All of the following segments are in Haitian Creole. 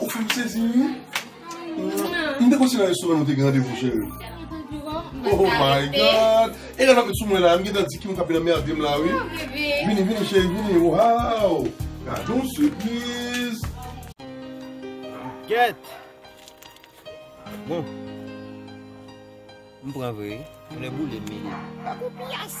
Ou fèm sezi ui. M te konsi nan restoran nou te gen randevou cheri. Oh my God. E lè lap met sou mwen la, m gentan di kimun kap vin anmerde m la wi. Vini vini cheri vini waww. Gadon sipriz. Gèt. Bon. M pran vre wi. Mwen neboule m mele. Papou piyas.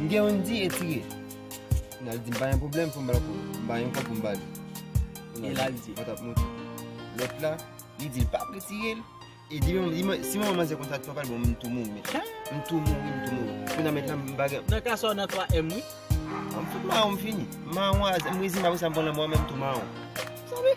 M gen youn di etire. N al di m pa gen pwoblèm pou m bal kou. M bay youn kòb pou m ba li. E l al di. Vant ap monte. Lòt la, li di l pa vle tire l. E di menm, li man, si manman manzè konn sa twa pal bon m tou mouri. M tou mouri, m tou mouri. Kou nan mèt la m pa gen. Nan ka sa w nan 3 èm wi. M fout mawon m fini. M mawon a zè. M rezimen apre sa m pran lanmò a men m tou mawon. Sa vle.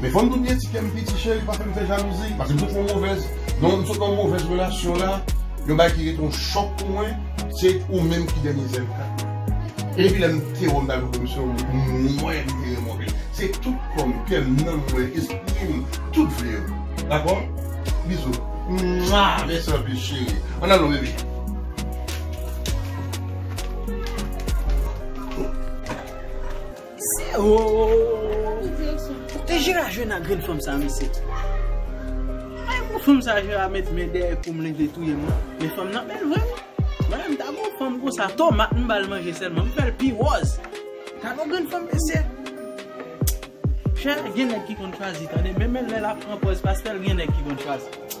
Men fòm tou di ti kèm piti cheri pa fèm fè jalouzi paske m sot fon movèz m sot nan yon movèz relasyon la yon bagay ki rete yon chòk pou mwen se ou menm ki dènye zen mwen e depi lèm kite wèm ta goumen misye m wè m vire m anpil se tout kòm kèm nanm mwen esprim tout vle ou dakò bizou mwa mèsi anpil cheri an alon bebe. Se ooh Kote Jera jwenn ak grenn fanm sa mesye Ay pou fanm sa Jera met men dèyè koum li vle touyem lan Men fanm nan bèl vre wi Mwen ta gen yon fanm konsa tomat m bal manje sèlman m fèl pi wòz Gade yon grenn fanm mesye Jera gen nèg ki konn chwazi tande menm lè lap pran pòz pastel gen nèg ki konn chwazi.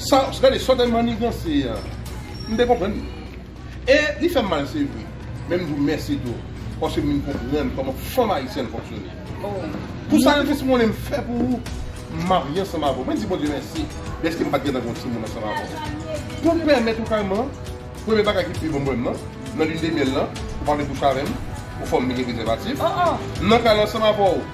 Sa gade sa w te manniganse an m te konprann li e li fè m mal se vre men m di w mèsi tou paske m vin konprann kòman fanm ayisyèn fonksyone pou sakrifis m konnen m fè pou ou m marye ansanm avè w mwen di Bondye mèsi dèske m pa t gentan gen yon timoun ansanm avè w pou m pèmèt ou kayman premye bagay ki pi bon pou m nan nan linedemyèl lan ou pa vle kouche avè m ou fè m mete prezèvatif m nan kay la ansanm avè w.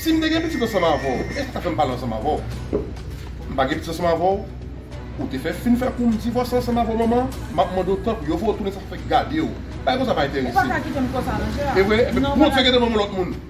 Si m te gen pitit ansanm avè w, èske w ta fè m pale ansanm avè w? M pa gen pitit ansanm avè w? Ou te fè fin fè kou m divòse ansanm avè w manman? M ap mande w tanpri, yo voye w tounen sa fè gade w. Bagay konsa pa enterese m. E vre? Ebyen Bondye gen devan m ou lòt moun?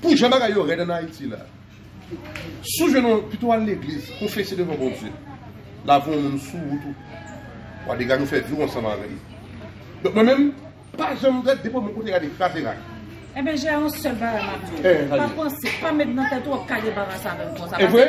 Pou jan bagay yo rèd an Ayiti la, si w jwenn yon, pito w al legliz, konfese devan Bondye, lave yon moun sou wout ou, wa dega nou fè viw ansanm avè li. Donk mwen menm, pa janm gad, depi w bon kote gade, kraze rak. Enben, Jè, yon sèl bagay m ap di w, pa panse, pa met nan tèt ou w ap kale balanse avè m konsa. Evre?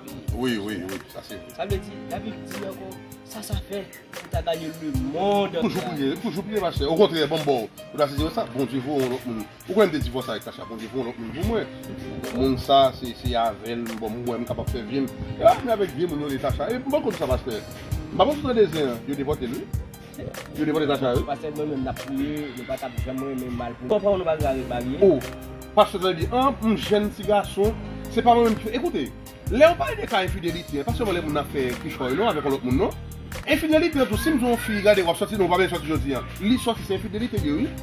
Wi, wi, wi, sa se vre. Sa vle di, la Bib di ankò, sa sa fè pou w ta ganye lemonn antye a? Toujou priye, toujou priye ma chè. Okontrè, ban m ba w. Ou ta sezi wè sa? Bondye voye yon lòt moun. Ou konnen m te divòse avèk Tacha. Bondye voye yon lòt moun pou mwen. Moun sa a, se avè l m wè m kapab fè vye m. Epi avèk vye moun yo rele Tacha. E m pa konn sa pastè. M pa konn si w tande zen an. Yo devòte l wi. Yo depote zam sa yo. Pastè mwen menm nap priye nou pa tap janm renmen mal pou papa nou pa ka ret marye. Oh pastè sa di an m jèn ti gason se pa mwen menm ki fè ekoute lèw pale de ka enfidelite an pa sèlman lè moun nan ap fè kichòy non avèk yon lòt moun non enfidelite an tou sim di yon fi gade wap sòti non ou pa byen sòti jodi an li sòti se enfidelite liye wi.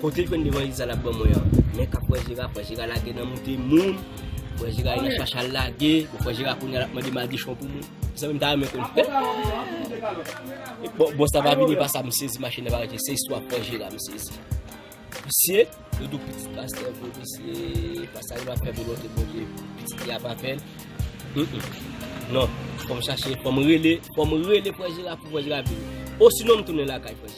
Kote jwenn devan legliz la lap ban mwen an men kap wè jera pran jera lage nan moute moun pran jera al nan chach al lage bon pran jera kounya lap mande madichon pou moun mezanmi mta renmen konn fèt bon sa pa vini pa sa msezi machin nan pa rete se istwa pran jera msezi misye yo di w pitit pastè vre misye pa sa yo ap fè volonte bondye pitit li ap apèn non fòm chache fòm rele fòm rele pran jera pou pran jera vini osinon mtounen lakay pran jera.